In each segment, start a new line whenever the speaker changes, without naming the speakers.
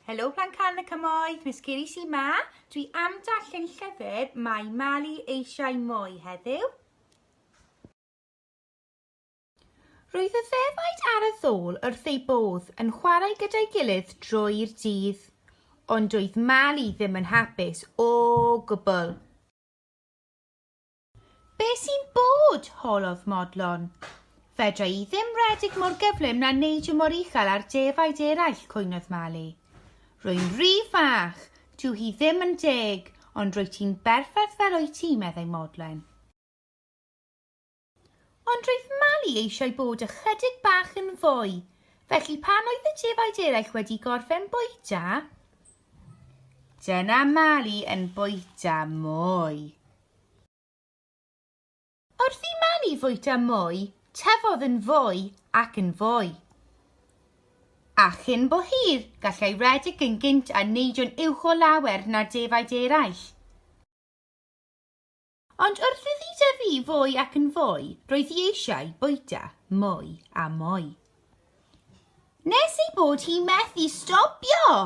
Helo Plan Can y Cymoedd, Miss Kiri sy'n ma. Dwi am darllen llyfr Mae Mali eisiau mwy heddiw. Roedd y ddefaid ar y ddôl wrth ei bodd yn chwarae gyda'i gilydd drwy'r dydd. Ond doedd Mali ddim yn hapus o gwbl. Be sy'n bod? holodd Modlon. Fedra i ddim redig mor gyflym na neidio mor uchel ar defaid eraill, cwynodd Mali. Rwy'n rhy fach, dyw hi ddim yn deg, ond rwyt ti'n berffaith fel wyt ti, meddai Modlen. Ond roedd Mali eisiau bod ychydig bach yn fwy, felly pan oedd y defaid eraill wedi gorffen bwyta, Dyna Mali yn bwyta mwy. Wrth i Mani fwyta mwy, tyfodd yn fwy ac yn fwy. A chyn bo hir, gallai redeg yn gynt a neidio'n uwch o lawer na defaid eraill. Ond wrth iddi dyfu fwy ac yn fwy, roedd hi eisiau bwyta mwy a mwy. Nes ei bod hi methu stopio!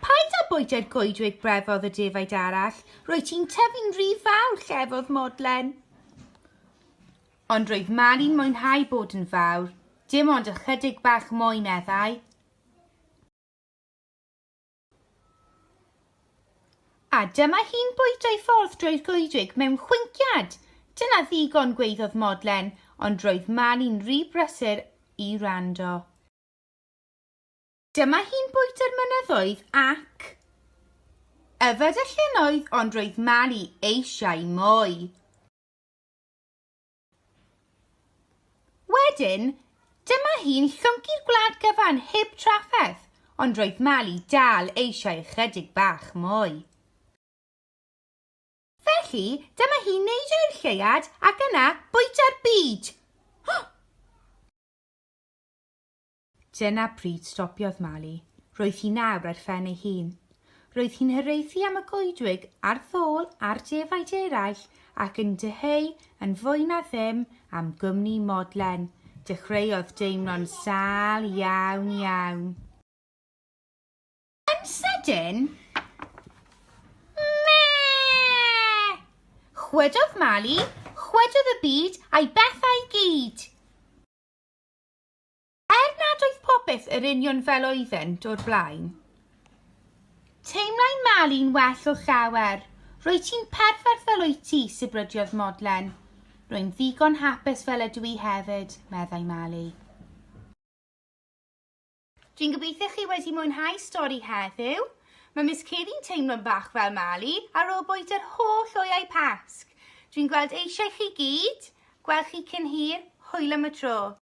Paid â bwyta'r goedwig brefodd y defaid arall, roedd ti'n tyfu'n rhy fawr, llefodd Modlen. Ond roedd Mali'n mwynhau bod yn fawr, dim ond ychydig bach mwy, meddai. A dyma hi'n bwydo'i ffordd drwy'r goedwig mewn chwinciad. Dyna ddigon, gweiddodd Modlen, ond roedd Mali'n rhy brysur i wrando. Dyma hi'n bwyta'r mynyddoedd ac yfed y llynnoedd ond roedd Mali eisiau mwy. Wedyn, dyma hi'n llwncu'r gwlad gyfan heb trafferth ond roedd Mali dal eisiau ychydig bach mwy. Felly, dyma hi'n neidio i'r lleuad ac yna bwyta'r byd. Dyna pryd stopiodd malu. Roedd hi nawr ar phen ei hun. Roedd hi'n hiraethu am y goedwig a'r ddôl a'r defaid eraill ac yn dyheu yn fwy na ddim am gwmni Modlen. Dechreuodd deimlo'n sâl iawn iawn. Yn sydyn, Mee! Chwydodd Mali, chwydodd y byd a'i bethau i gyd! Er nad oedd popeth yr union fel oeddynt o'r blaen, teimlai Mali'n well o llawer. Rwyt ti'n perffaith fel wyt ti, sibryddiodd Modlen. Rwy'n ddigon hapus fel ydw i hefyd, meddai Mali. Dwi'n gobeithio chi wedi mwynhau stori heddiw. Mae Miss Kevi'n teimlo'n bach fel Mali ar ôl bwyd yr holl oeau Pasg. Dwi'n gweld eisiau chi gyd, gweld chi cyn hir, hwyl am y tro.